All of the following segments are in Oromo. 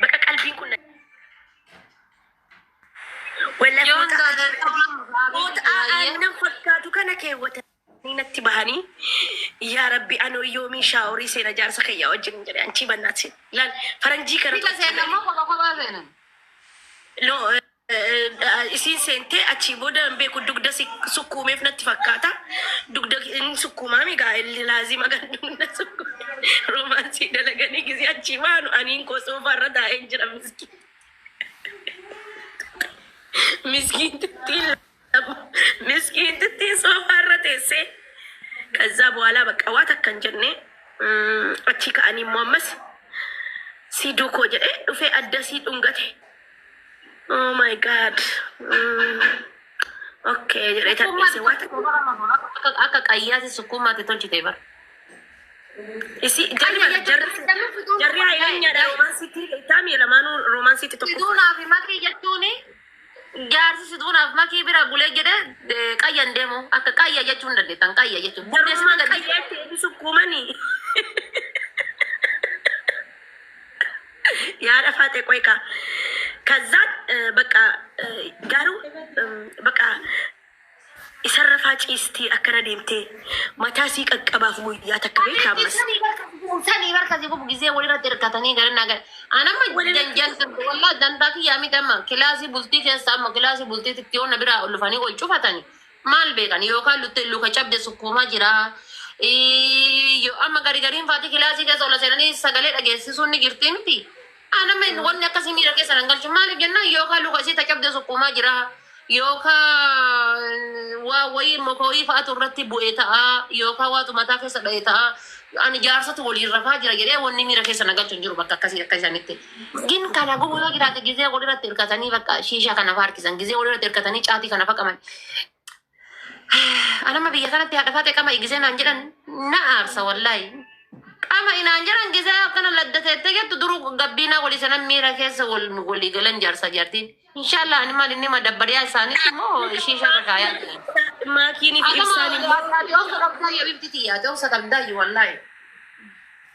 Baqa qalbiin kun na- Wallahi Yoon foota- gaadee foota aannan fakkaatu kana keewwatanii natti bahanii yaa rabbi anoo yoomii shaaworii seena jaarsa kiyyaa wajjin jedhe anchii bannaat seena laal faranjii kana Bika seenan moo kopha kophaa seenan? loo isiin seentee achii booda hin beeku dugda si sukkuumeef natti fakkaata. Dugda hin sukkuumaami gaa'elli laazima kan dugda sukkuume roomaansii dalaganii gisee achii baanu aniin koo soofaa irra taa'een jira miskiin. Miskiin tittiin. Miskiintittiin soofaa irra teessee kazzaa bu'aalaa bakka waa takka hin jenne mm, achii ka'anii immoo ammas sii duukoo jedhee dhufee adda sii dhungate. Oh my god. Mm. Okay jedhee tapheesse waa takka. Akka akka qayyaati sukkuumaatti tolchite bara. Isi jarri bara jarri jarri hayleenyaadha roomaansiitti taamii lamaanuu roomaansiitti tokko. Siduunaa fi makii jechuun Jaarsi situu naaf makii bira bulee jedhe eh, qayyan deemu akka qayya jechuu hin dandeettan qayya jechuun booddee situu Garummaan gadhiisu. qayyaatti eebbisu kuumanii. Yaa dhafaate qoy kaa. Kazzaan eh, bakka eh, garuu eh, bakka Isan rafaa ciistii akkana deemtee mataa sii qaqqabaaf guyyaa takka Ani beekta ammas. sani barka gubu sani barka si gubu gizee wali irratti hirkatanii gara naa gara. Anamma Wali irratti janjan sirbi wallah dantaa kiyyaa miti amma kilaasii bultii keessa amma kilaasii bultii titti yoo na biraa ol dhufanii ol cufatani maal beekan yookaan lutte luka cabde sukkuumaa jira. Ii, Yoo amma gari gariin faati kilaasii keessa ol seenanii sagalee dhageessisuun ni jirti miti. Ana men wanni akkasii miira keessa nan galchu maaliif jennaan yookaan luka isii ta cabde sukkuumaa jira yookaan waa wayii moka wayii fa'atu irratti bu'e ta'a yookaan waatu mataa keessa dha'e ta'a ani jaarsatu waliin rafaa jira jedhee wanni miira keessa na galchu hin jiru bakka akkasii akka isanitti. Gin kana gubuu yoo jiraate gizee walirratti hirkatanii bakka shiishaa kana faarkisan gizee walirratti hirkatanii caatii kana faqaman Anama biyya kanatti haadha faate qama igisee naan jedhan na aarsa wallaahi. Qama inaan jedhan gisee akkana ladda teettee jettu duruu gabbiinaa walii sanan miira keessa wal walii galan jaarsaa jaartiin. Inshaallah ani maal inni madabbariyaa isaanitti immoo ishii sharra kaayaa jiran. Maakiinii fi ibsaan immoo Ati obsa qabdaa yoo ibti tiyyaate obsa qabdaa yoo wallaahi.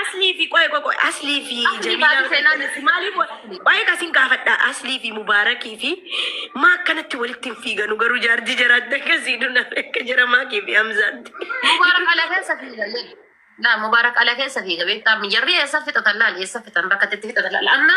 Aslii fi qoy qoy aslii fi baay'ee kasin gaafadha aslii fi mubaarakii fi maa akkanatti walitti hin fiiganu garuu jaarjii jaraatti akkasii duna akka jara maakii fi hamzaatti. Mubaarak ala keessa fiiga. Laa mubaarak ala keessa fiiga beektaa jarri eessa fixatan laal eessa fixan bakka itti fixatan laal amma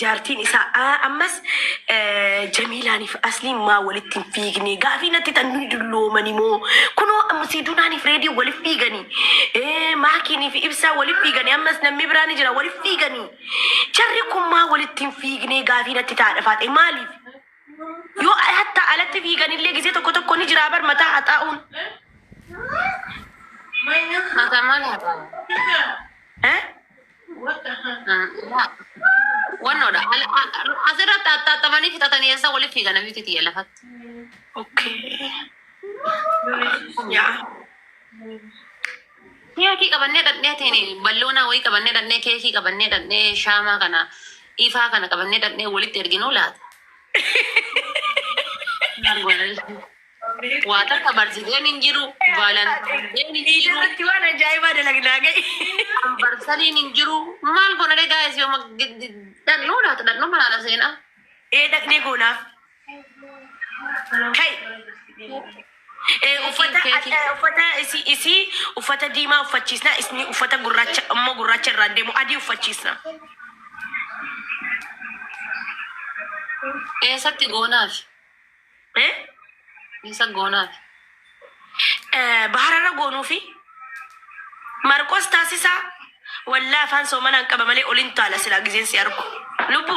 Jaartiin isaa A ammas eh, Jamiilaaniif asliin maa walitti hin fiigne gaafii natti tan nuyi dulloomani moo kunoo amma Siidunaaniif reedii walif fiiganii eh, maakiiniif ibsaa walif fiiganii ammas namni biraa ni jira walif fiiganii jarri kun maa walitti hin fiigne gaafii natti taadha faaxe maaliif yoo hatta alatti fiiganillee gisee tokko tokko ni jiraa bar mataa haxaa'uun Hata maal haa ta'u? eh? Wannoodha. Asirratti axxaaxamanii fixatanii eessa walitti fiigan abiitii tiyya lafatti. Keekii qabannee dhaqnee teeni balloonaa wayii qabannee dhaqnee keekii qabannee dhaqnee shaamaa kana ifaa kana qabannee dhaqnee walitti erginuu laata. Waa takka barsideen hin jiru, valentine day hin Iida jiru, irratti waan ajaa'ibaa dalagnaa ga'i. anniversary hin jiru. Maal goona ree guys yooma dhaqnuu laata dhaqnuu malaala seenaa. Ee dhaqnee goonaa. Kai. Ee uffata Keekii. eh, uffata isii isii uffata diimaa uffachiisna isni uffata gurraacha immoo gurraacha irraan deemu adii uffachiisna. Eessatti goonaaf? Mee isa goonaati. Bahararra goonuufi Marqos taasisaa wallaa afaan soomanaan qaba malee olin taala silaa gizeen si argu lubbu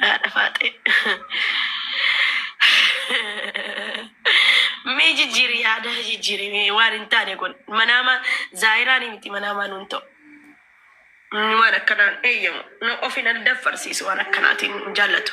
Haadha faaxee. Mee jijjiiri yaada jijjiiri mee waan hin taane kun manaama zaayiraan miti manaamaa nuun ta'u. Inni waan akkanaan eeyyamu na of hin addaffarsiisu waan akkanaatiin hin jaallatu.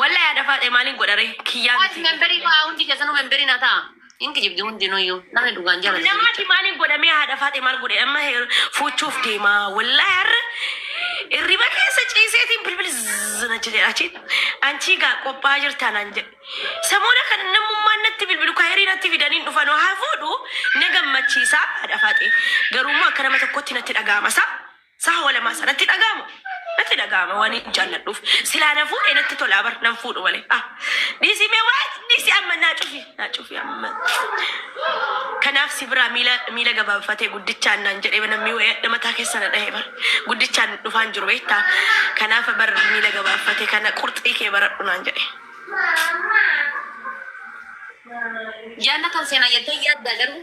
Wallahi haadha faaxee maaliin godha ree kiyyaa Guys miti. memberii fa'aa hundi keessanuu memberii na ta'a. Hin kijibdi hundinuyyuu namni dhugaan jaalatu Namati jecha. maaliin godha mee haadha faaxee maal godhe amma heer fuuchuuf deema wallahi har'a irriba keessa ciiseetiin bilbil zina jedhe achiin anchii gaa qophaa jirtaa naan jedhe samoona kan namummaan natti bilbilu kayirii natti fidaniin dhufanoo haa fuudhu na gammachiisaa haadha faaxee garuummoo akka nama tokkotti natti dhaga'ama isaa Saha walamaa sa natti dhaga'ama natti dhaga'ama waan hin jaalladhuuf silaa na fuudhe natti tolaa bar nan fuudhu malee ah dhiisii mee waa dhiisii amma naa cufi naa cufi amma kanaaf si biraa miila miila gabaabfatee guddichaan naan jedhee namni wayadha mataa keessa na dhahee bar guddichaan dhufaan jiru beektaa kanaaf bar miila gabaabfatee kana qurxii kee baradhu naan jedhe Jaannatan seenaa jettee yaaddaa garuu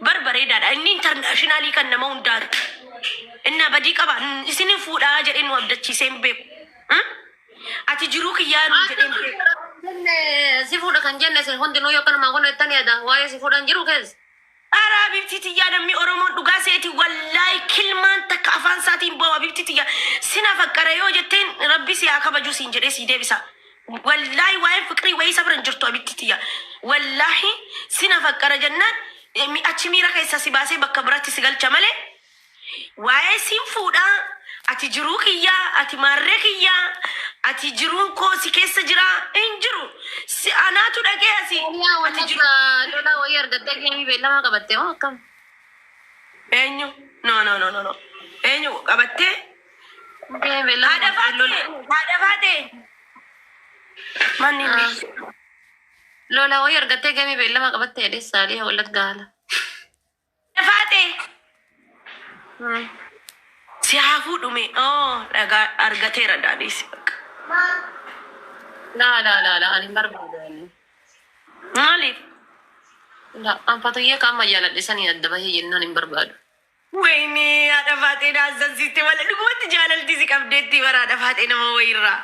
Bar bareedaadha. Inni intarnaashinaalii kan nama hundaati. Innaa badii qaba. N- Isin hin fuudhaa jedhee nu abdachiisee hin beeku. Hmm? Ati jiruu kiyyaa nuun jedhee hin beeku. Jenne si fuudha kan jenne isin hundinuu yoo kanumaan kun ittan yaada waa'ee si fuudhan jiru keessa. Ara Habibtii tiyyaa namni Oromoon dhugaa seeti wallaahi kilmaan takka afaan isaatiin bahu Habibtii tiyya sina faqqara yoo jetteen rabbi si haa kabajuu siin jedhee sii deebisa. Wallaahi waa'een fiqirii wayii isa bira hin jirtu abittii tiyya. Wallaahi sina faqqara jennaan eh, mi- achi miira keessa si baasee bakka biratti si galcha malee waa'ee siin fuudhaa ati jiruu kiyyaa ati maarree kiyyaa ati jiruun koo si keessa jiraa hin jiru si anaatu dhaqee asi Yaa ati wanta jiru dura lolaa wayii argattee deemii beellamaa qabatte moo akkam? eenyu no no no no no eenyu qabattee Lola wayii argattee gamee beellama qabattee jedhee saalii wallaggaa haala. Faate. Si haa fuudhume. Oo dhagaa argateera daadhiisi bakka. Laa laa laa laa ani hin barbaadu. Maaliif? Laa anfatoyyee ka amma jaaladhe sanii adda bahee jennaan hin barbaadu. Wayinee haadha faaxee na hassasiiste malee dhugumatti jaalalti si qabdeetti bara haadha faaxee nama wayirraa.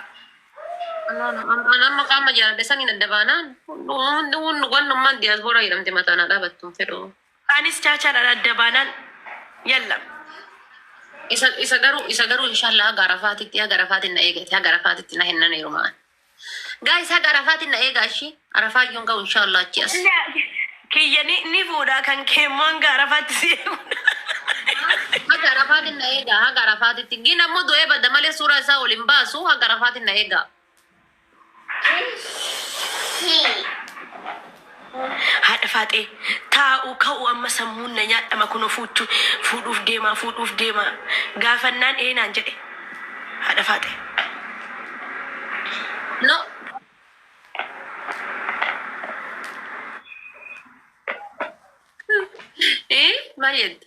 An amma qaama jaaladhe saniin adda baanaan hundi hundi wannummaan diyaaspooraa jedhamte mataan haa dhaabattu fedhu. Anis chaachaadhaan adda baanaan yallam. Isa isa garuu isa garuu inshallah haga arafaatitti haga arafaatiin na eegate haga arafaatitti na hinnan heerumaan. Guys haga arafaatiin na eegaa ishii. Arafaa yoon ga'u inshallah achi as. Kiyya ni ni fuudha kan kee immoo hanga arafaatti si eegu. Haga arafaatiin na eegaa haga arafaatitti. Gin ammoo du'ee badda malee suuraa isaa ol hin baasu haga arafaatiin na eegaa. Haadha faaxee. Taa'u ka'u amma sammuun na nyaadhama kuno fuuchu fuudhuuf deemaa fuudhuuf deemaa gaafannaan ee naan jedhe haadha faaxee. No. Ee maal jette.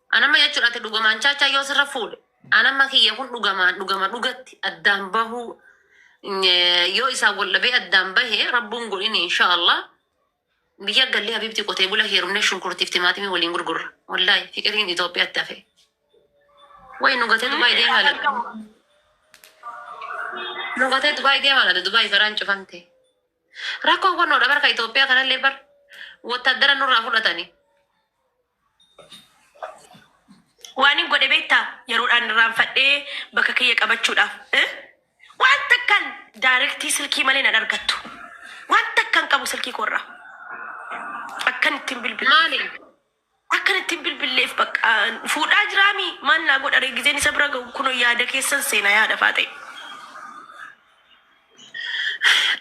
An amma jechuun ati dhugamaan chaachaa yoo sirra fuudhe an amma kiyya kun dhugamaan dhugama dhugatti addaan bahuu eh, yoo isaan wal dhabee addaan bahe rabbuun godhin inshaallah biyya gallee habiibti qotee bula heerumne shunkurtiif timaatimii waliin gurgurra wallaahi fiqiriin Itoophiyaatti hafe way nu gatee Dubaay deemaa laata nu gatee Dubaay deemaa laata Dubaay garaan cufamte rakkoon kun noodha barka Itoophiyaa kanallee bar wottaaddara nurraa fudhatani Waanin godhe beektaa? Yeroodhaan irraanfadhee bakka kiyya qabachuudhaaf. Eh? Waan takkaan daayirektii silkii malee nan argattu. Waan takkaan qabu silkii koorraa. Akkan ittiin bilbile. Maali? Akkan ittiin bilbilleef bakka fuudhaa jiraami maal naa godha ree gizeen isa bira ga'u kunoo yaada keessan seena yaada faaxee.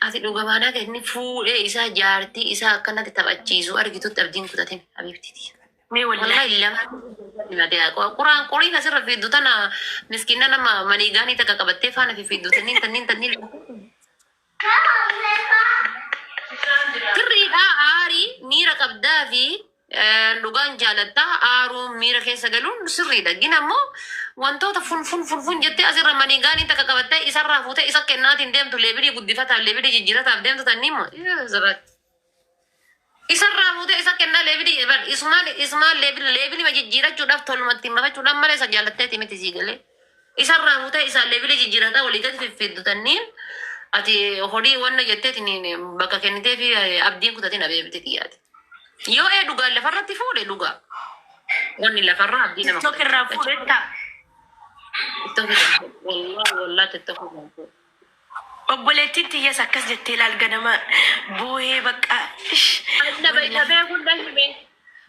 Ati dhugumaan akka inni fuudhee isaa jaartii isaa akkanatti taphachiisu argitutti abdiin kutatin habiibtiti. Mee wallahi. Wallahi lamaan na dee'a. Quraan qoriin asirra fiiddu tana miskiina nama maniigaanii takka qabattee faana fi fiiddu tanniin tanniin tanniin. Sirriidha aarii miira qabdaa fi Dhugaan jaalatta aaruun miira keessa galuun sirriidha. Gin ammoo wantoota fun fun fun fun jettee asirra manigaanii takka qabattee isarraa fuutee isa kennaatiin deemtu leebilii guddifataaf leebilii jijjiirataaf deemtu tannii immoo zirratti. Isarraa fuutee isa kennaa leebilii bar isumaan isumaan leebil leebilima jijjiirachuudhaaf toluma ittiin bafachuudhaan malee isa jaallatteeti miti sii galee. Isarraa futee isaan leebila jijjiirataa olii gad fiffiddu tanniin ati horii wanna jettee tiniin bakka kennitee fi abdiin kutatin abeebiti xiyyaati. Yoo ee dhugaan lafarratti fuudhe dhugaa wanni lafarraa abdii nama TikTok irraa kutachiisa. fuudhetta. Tokko tokko wallaa wallaa tokko tokko. Obboleettiin tiyyas akkas jettee laal ganama boohee baqqaa ish wollahi.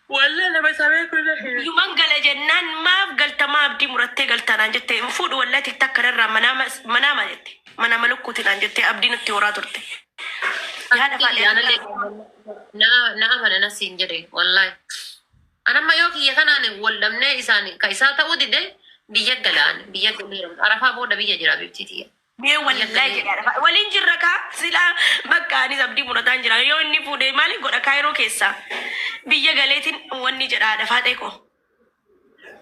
Wollahi nama isa beeku na hime. Yuman gala jennaan maaf galta maa abdii murattee galta naan jette hin fuudhu wollahi tiktak kana irraa manaama manaama jette manaama lukkuuti naan jettee abdii nutti horaa turte yaa dafaa Akkasii dheeradhaa. anallee na na amanana siin jedhe wallahi. An amma yoo kiyya kanaan wal dhabnee isaan ka isaa ta'uu dide biyya gala an biyya galeera arafaa booda biyya jira biftii tiyya Mee biyya wallaahi galee jedhaa dhafa. Waliin jirra kaa silaa bakka anis abdii murataan jira. Yoo inni fuudhee maali godha kaayiroo keessaa. Biyya galeetiin wanni jedhaa dhafaa xeeqoo.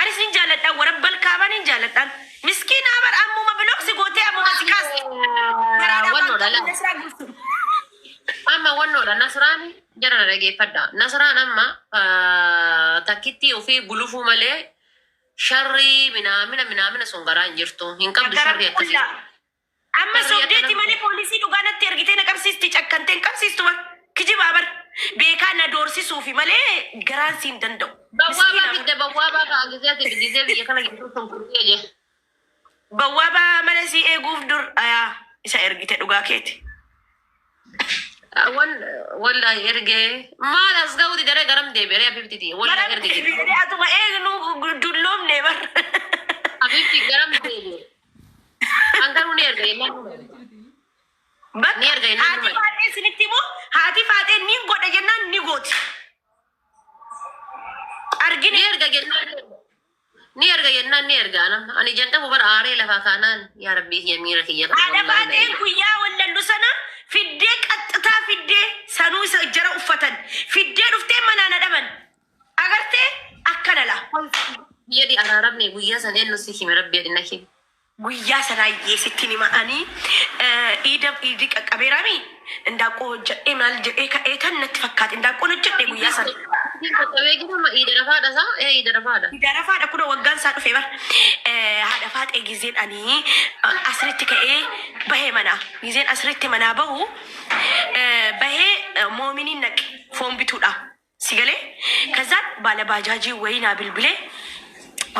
Anis nin jaaladha wara balkaama nin jaaladhan miskiinaa bar ammuma bilok si gootee ammuma si kaasti garaadhaa waan Wannoodha qabdu laa. nasraa guutu. Amma wannoodha nasraan jara na dhageeffadha. Nasraan amma ah, takkittii ofii gulufuu malee sharrii minaamina minaamina sun garaa hin jirtu. Hin qabdu sharrii Garan akkasii. qullaa Amma sobdeeti malee poolisii dhugaa natti ergitee na qabsiisti cakkantee hin qabsiistu bar kijibaa bar beekaa na doorsisuufi malee garaan siin danda'u. Bawwaabaa fidde bawwaabaa kaa gizee ati gizee biyya kana gidduu sun furtee jee. Bawwaabaa mana sii eeguuf dur ayaa isa ergite dhugaa keeti. Wan wallahi ergee maal as ga'uu didaree garam deebi'ee abibti tiyya wallahi ergee. Atuma eegnu dulloomne bar. Abibti garam deebi'ee. An garuu ni erga jennaan ni erga. Ni Bakka erga jennaan haatii ni erga. faaxee isinitti immoo haatii faaxee ni godha jennaan ni gooti. Ni Argine erga jennaan ni erga. Ni erga jennaan ni erga. Anam- Ani ijaan dhabu bara aaree lafaa kaanaan yaa rabbii kiyya miira kiyya kana haadha wallaahi na faaxeen eegi. guyyaa wallallu sana fiddee qaxxitaa fiddee sanuu isa jara uffatan fiddee dhuftee manaa na dhaban. Agartee akkana la konfii. Yedi araramne guyya san ennu si hime rabbi yedi na hime. Guyyaa sanaayyee sittin hima ani iida iidi qaqqabeeraami indaaqqoo hojjadhee maal jedhee ka'eetan natti fakkaate indaaqqoon hojjadhe guyyaa sana. Iidin qaqqabee jira amma iida rafaadha isaa ee iida rafaadha. Iida rafaadha kunoo waggaan isaa dhufe bar haadha faaxee gizeen ani asritti ka'ee bahee manaa gizeen asritti manaa bahu bahee moominiin naqe foon bituudha. Si galee kazaan baala baajaajii wayii naa bilbilee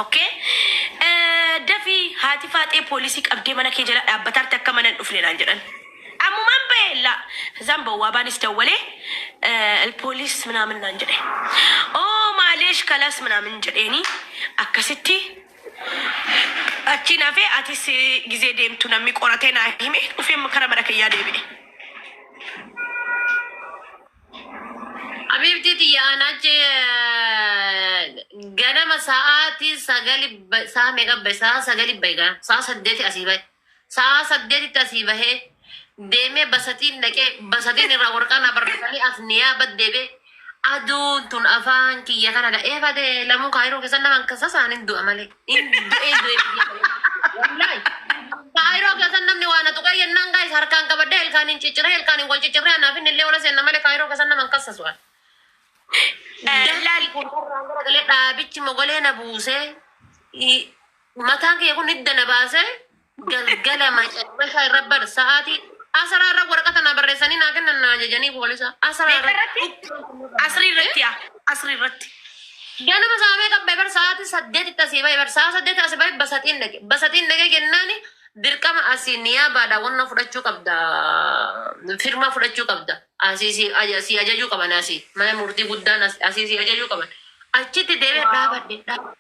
okkee dafii haati faaxee poolisii qabdee mana kee jala dhaabbataarti akka mana hin dhufne naan jedhan ammumaan bahee laa kazaan bawwaabaanis dawwalee poolis minaamin naan jedhe oo maaleesh kalas minaamin jedheeni akkasitti achiin hafee atis gizee deemtu namni qoratee naa hime dhufee kara mana kiyyaa deebi'e. Habiibtii tiyya an achi ganama sa'aatii sagali ba- sa'a meeqa bahe sa'a sagali bahe gaa sa'a saddeeti asii bahe sa'a saddeetitti asii bahe deemee basatiin dhaqee basatiin irraa warqaa na barreessanii as niyaa baddeebe aduun tun afaan kiyya kana dha'ee badee lamuu kaayiroo keessan naman kasasaan hin du'a malee. Hin du'ee du'ee biyya kana. Wallaahi. Kaayiroo keessan namni waa na tuqee yennaan gaa'is harkaan qabadhee ilkaan hin cicciree ilkaan hin wal ciccirree anaaf inni illee ola seenna malee kaayiroo keessan nama hin kassasu ani. Dafqi kun irraan garagalee dhaabichi mogolee na buusee i- mataan kee kun hidda na baasee galgala macarrashaa irra bar sa'aatii asaraa irra waraqata naa barreessanii naa kennan naa ajajanii poolisa asaraa Meeqa irratti? irratti Asrii irratti yaa. Asrii irratti. ganama saamee qabbe bar sa'aatii saddeetitti asii bahe bar sa'a saddeeti asii bahe basaxiin dhaqe basaxiin dhaqe jennaani dirqama asii niyaabaadha wanna fudhachuu qabda firmaa fudhachuu qabda asii si aja- si ajajuu qaban asii mana murtii guddaan as- asii si ajajuu qaban achitti deebi'e Waaw. dhaabadhe dhaabadhe.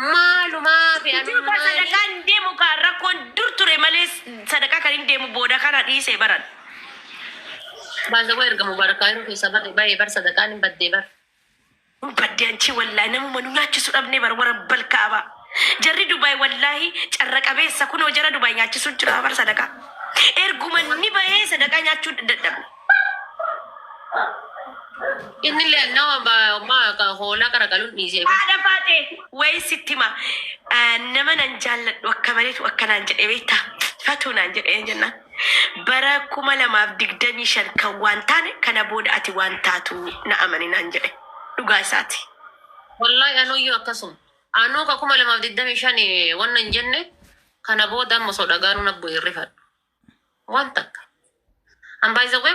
Maalumaafi Dur kan anummaani. sadaqaa hin deemu kaa rakkoon dur ture malee sadaqaa kan hin deemu booda kana dhiise baran. By the way erga Mubarak Cairo keessaa bar- bahee bar sadaqaan hin baddee bar. Hin badde anchii wallaahi namuma nu nyaachisu dhabnee bar warra balkaaba. Jarri Dubaay wallaahi carra qabeessa kunoo jara Dubaay nyaachisuu jira bar sadaqaa. Erguma ni bahee sadaqaa nyaachuu dadhabne. Inni illee nama ba- ma- ka- hoolaa qaraqaluun dhiisee fi Haadha baatee wayi sitti hima. Ah, Nama nan jaalladhu akka maleetu akka naan jedhe beekta. Fatuu naan jedhe een jennaan. Bara kuma lamaaf digdamii shan kan waan taane kana booda ati waan taatu na amani naan jedhe. Dhugaa isaati. wallahi anuyyuu akkasuma. Anuu ka kuma lamaaf digdamii shani wanna hin jenne Kana booda amma osoo dhagaanuu na bu'e hin rifadhu. Waan takka. An by the way